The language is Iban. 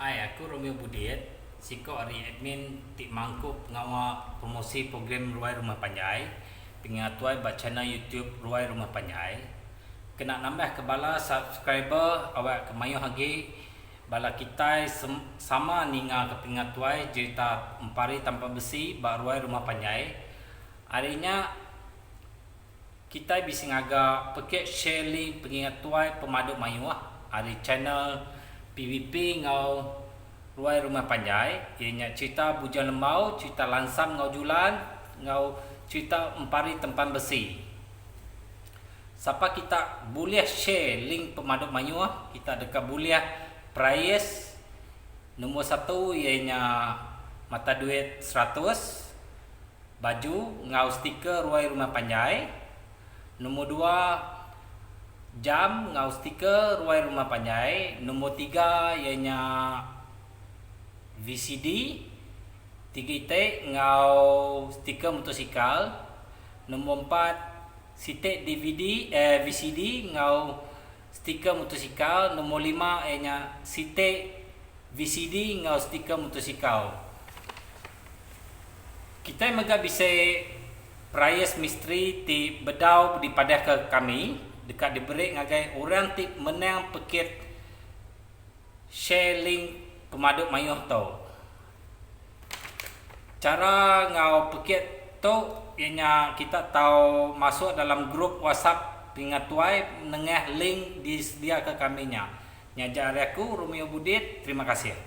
Hai, aku Romeo Budit, siko ari admin ti mangku pengawa promosi program Ruai Rumah Panjai pengatoi ba channel YouTube Ruai Rumah Panjai. Kena nambahka bala subscriber awakka mayuh agi bala kitai sama ningaka pengatoi jerita Empari Tanpa Besi ba Ruai Rumah Panjai. Ari nya. Kitai bisi ngaga pekit share link pengingat tuai pemadu mayuh ari channel PVP enggau Ruai Rumah Panjai iya nya cherita Bujang Lembau, cherita Lansam enggau Julan enggau cherita Empari Tempan Besi. Sapa kita bulih share link pemadu mayuh kita deka bulih prize nombor satu iya nya mata duit seratus. Baju enggau stiker ruai rumah panjai. Nombor dua, jam enggau stiker ruai rumah panjai. Nombor tiga iya nya VCD tiga iti enggau stiker motosikal. Nombor empat, siti DVD, eh VCD enggau. Stiker mutosikal nombor lima iya nya siti VCD enggau stiker mutosikal. Kitai mega bisi price misteri ti bedau dipadahka ke kami deka diberi ngagai orang ti menang pekit share link pemadu mayuh tu. Chara enggau pekit tu iya nya kita tau masuk dalam group WhatsApp Telinga Tuai nengah link disediaka kami nya. Nya aja ari aku, Romeo Budit, terima kasih.